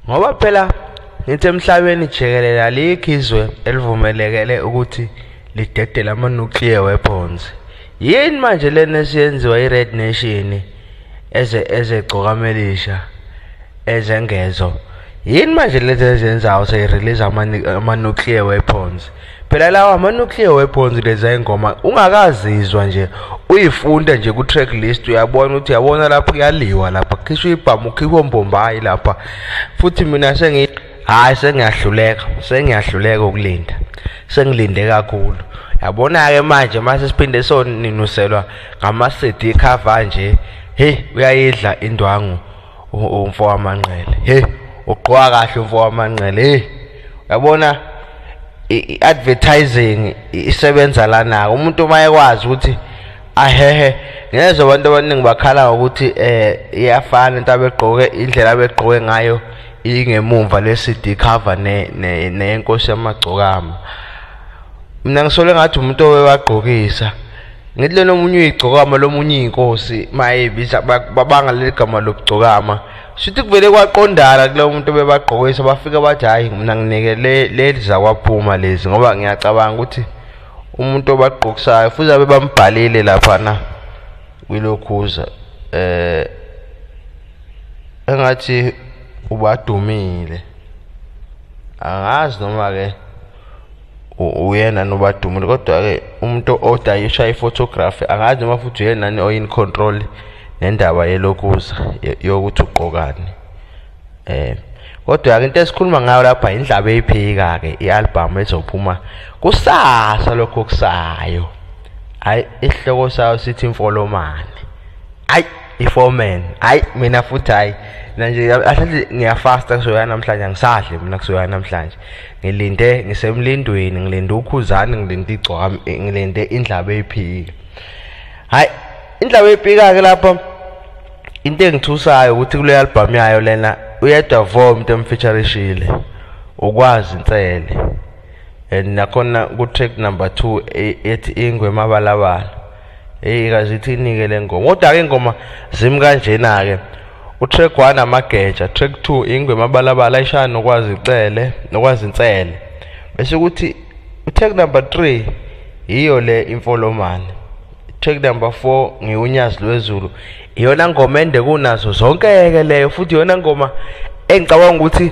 ngoba phela ngithi emhlabeni jikelele alikho izwe elivumelekele ukuthi lidedele ama-nuclear weapons yini manje lena esiyenziwa i-red nation eze ezegcokamelisha ezengezo yini manje lezi ezenzayo seyirelease ama-nuclear weapons phela lawa ama-nuclear weapons leza ingoma ungakazizwa nje uyifunda nje ku-track list uyabona ukuthi yabona lapho kuyaliwa lapha khishwa ibhamu ukhipha ombombayi lapha futhi mina sengi hhayi sengiyahluleka sengiyahluleka ukulinda sengilinde kakhulu yabona-ke manje mase siphinde soninuselwa ngama-cd cover nje heyi uyayidla indwangu umfo wamanqele hey ugqoka kahle umfo wamanqele hey yabona i-advertising isebenza lana umuntu uma ekwazi ukuthi ahehe ngezwe abantu abaningi bakhala ngokuthi eh iyafana into abegqoke indlela abegqoke ngayo ingemumva le-CD cover neyenkosi yamagcokama mina ngisole ngathi umuntu owewagqokisa ngithi lena omunye uyigcokama lomunye iy'nkosi uma eyibiza babanga leli gama lokugcokama shuthi kuvele kwaqondana kulo muntu bebagqokisa bafike bathi hhayi mina nginike leli zakwaphuma lezi ngoba ngiyacabanga ukuthi umuntu obagqokisayo futhi abe bambhalile laphana kwilokhuza eh engathi ubadumile angazi noma ke uyena nobadumile kodwa-ke umuntu odayisha i-photography angazi noma futhi uyenani oyin control nendaba yelokuza yokuthi ugqokani um kodwa-ke into esikhuluma ngayo lapha yindlaba eyiphika-ke i-albhamu ezophuma kusasa lokho okusayo hhayi isihloko sayo sithi imfolomane hhayi iforeman hhayi mina futhi hhayi mina nje ahlathi ngiyafasta kusoya namhlanje angisadli mina kusoya namhlanje ngilinde ngisemlindweni ngilinde ukhuzani ngilinde igcwami eh, ngilinde indlaba eyiphika hayi indlaba eyiphika-ke lapha into engithusayo ukuthi kule album yayo lena uyedwa vo umuntu emfeaturishile ukwazi insele and nakhona ku-track number two e, ethi ingwe mabalabala Hey kaze ithinike lengoma. Kodwa ke ingoma zimi kanjena ke. Utrack 1 amageja, track 2 ingwe mabalabala ishaya nokwazi icele, nokwazi insele. Bese ukuthi utrack number 3 yiyo le imfolomane. Track number 4 ngiwunyazi lwezulu. Iyona ngoma ende kunazo zonke ke leyo futhi iyona ngoma engicabanga ukuthi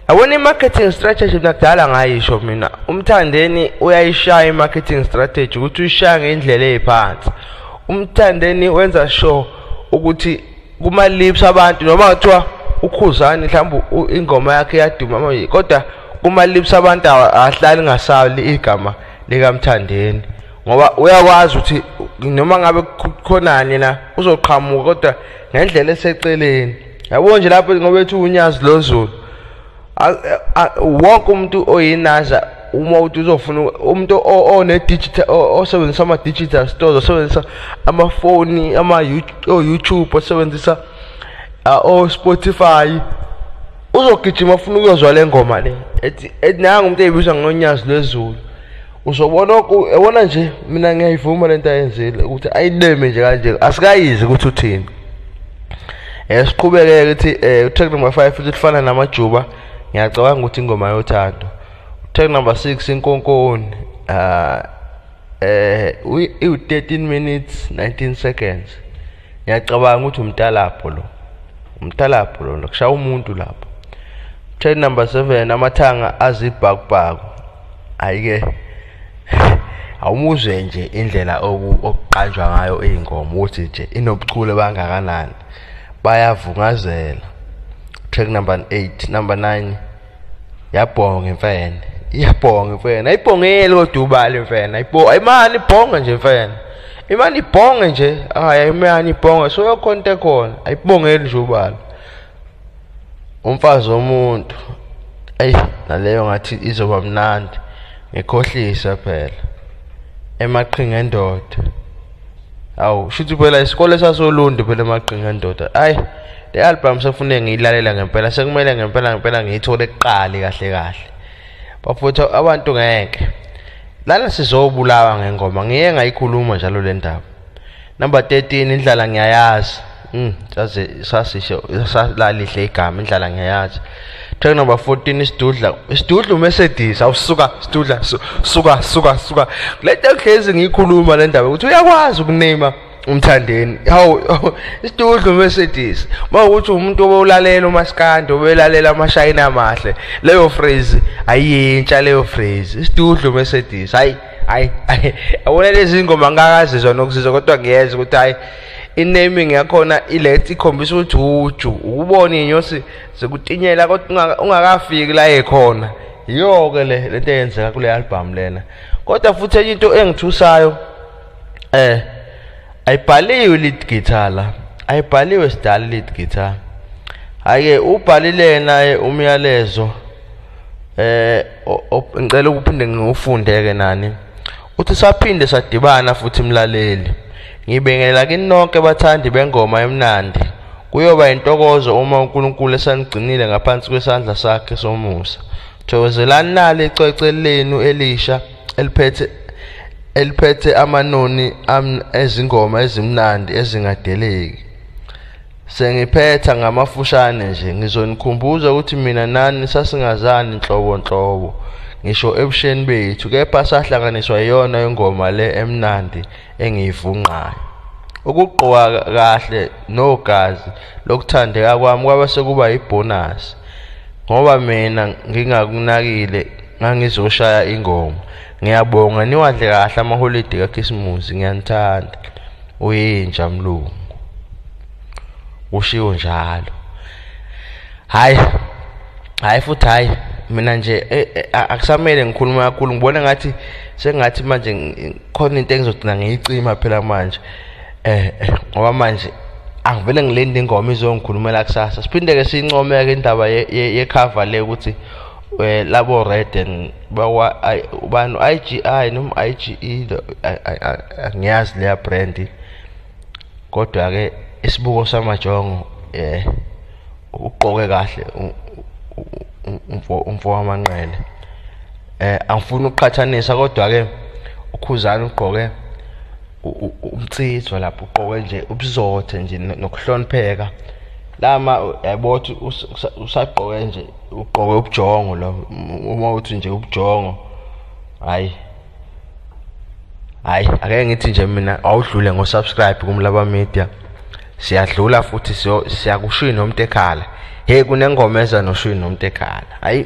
yabona i-marketing strategy mina kudala ngayisho mina umthandeni uyayishaya i-marketing strategy ukuthi uyishaya ngendlela eyiphansi umthandeni wenza sure ukuthi kuma-lips abantu noma kuthiwa ukhuzani mhlawumbe ingoma yakhe iyaduma manje kodwa kuma-lips abantu ahlali ngasali igama likamthandeni ngoba uyakwazi ukuthi noma ngabe khonani na uzoqhamuka kodwa ngendlela eseceleni yabo nje lapho ngoba ethi unyazi lozulu wonke umuntu oyinasha uma uthi uzofuna umuntu one-digital osebenzisa ama-digital stores osebenzisa amafoni ama-youtube osebenzisa o-spotify uzogijima ufuna ukuyozwa le ngoma le ethi nangu umuntu eyibizwa ngonyazi lwezulu uzobona yabona nje mina ngiyayivuma lento ayenzile ukuthi ayineme nje kanje asikayizi ukuthi uthini eh siqhubeke ukuthi eh track number 5 futhi lifana namajuba ngiyacabanga ukuthi ingoma yothando track number 6 inkonkoni ah eh u 13 minutes 19 seconds ngiyacabanga ukuthi umtalabho lo umtalabho lona kushaya umuntu lapho train number 7 amathanga azibhakubhaku ayike awumuzwe nje indlela okuqanjwa ngayo iy'ngoma ukuthi nje inobuchule bangakanani bayavungazela track number 8 number 9 yabhonga imfene iyabhonga imfene ayibhongeli kodwa ubali imfene ayibo ayimani ibhonga nje imfene imani ibhonge nje hayi imani ibhonga so yokhonta khona ayibongeli nje ubali umfazi womuntu ayi naleyo ngathi izoba mnandi ngikhohlisa phela emaqhinga endoda awu shuthi phela isikole sasolundi phela emagqinga ndoda ayi le album sefune ngiyilalela ngempela sekumele ngempela ngempela ngiyithole kuqali kahle kahle bafutha abantu ngeke lana sizobulawa ngengoma ngiye ngayikhuluma njalo le ndaba number 13 indlala ngiyayazi Mm, saze sasisho salalihle igama indlala ngiyayazi. Track number 14 isidudla. Isidudla uMercedes awusuka sidudla suka suka suka. Lento ehlezi ngiyikhuluma le ndaba ukuthi uyakwazi ukunema umthandeni hawu isidudla uMercedes uma ukuthi umuntu obewulalela umaskandi obelalela amashayina amahle leyo phrase ayintsha leyo phrase isidudla uMercedes hayi hayi awona lezi ngoma ngakazizwa nokuzizwa kodwa ngiyeza ukuthi hayi inaming yakhona ilet ikhombisa ukuthi uju ukubona inyosi zikutinyela kodwa ungakafiki la ekhona yiyo ke le lento eyenzeka kule album lena kodwa futhi enye into engithusayo eh ayibhaliwe lead guitar la ayibhaliwe sidala lead guitar hayi ubhalile naye umyalezo eh ngicela ukuphinde ngiwufunde ke nani uthi saphinde sadibana futhi mlaleli ngibengela kini nonke bathandi bengoma emnandi kuyoba intokozo uma uNkulunkulu esanigcinile ngaphansi kwesandla sakhe somusa thokozelani nali icwece lenu elisha eliphethe eliphethe amanoni ezingoma ezimnandi ezingadeleki Sengiphetha ngamafushane nje ngizonikhumbuza ukuthi mina nani sasingazani nhlobo nhlobo ngisho ebusheni bethu kepha sahlanganiswa iyona ingoma le emnandi engiyivungqayo ukugqoka kahle nogazi lokuthandeka kwami kwaba sekuba yibhonasi ngoba mina ngingakunakile ngangizoshaya ingoma ngiyabonga niwadle kahle amaholidi kakhisimusi ngiyanithanda uyinja mlungu ushiwo njalo hayi hayi futhi hayi mina nje eh, eh, akusamele ngikhulume kakhulu ngibona ngathi sengathi manje khona into engizogcina ngiyicima phela manje eh, eh ngoba manje angivele ngilinde ingoma izongikhulumela kusasa siphinde ke sincomeke indaba yekhava le ukuthi Eh, labo red and bawa ubani IGI noma IGE angiyazi leya brand kodwa ke isibuko samajongo eh uqoke kahle umfo umfo wamanqele eh angifuni ukuqhathanisa kodwa ke ukhuzana ugqoke umtsitso lapho ugqoke nje ubuzothe nje nokuhlonipheka lama yayibotha usagqoke nje ugqoke ubujongo lo uma uthi nje ubujongo hayi hayi ake ngithi nje mina awudlule ngosubscribe kumlaba media siyadlula futhi siyakushiya nomuntu ekhala hey kunengoma eza noshiya nomuntu ekhala hayi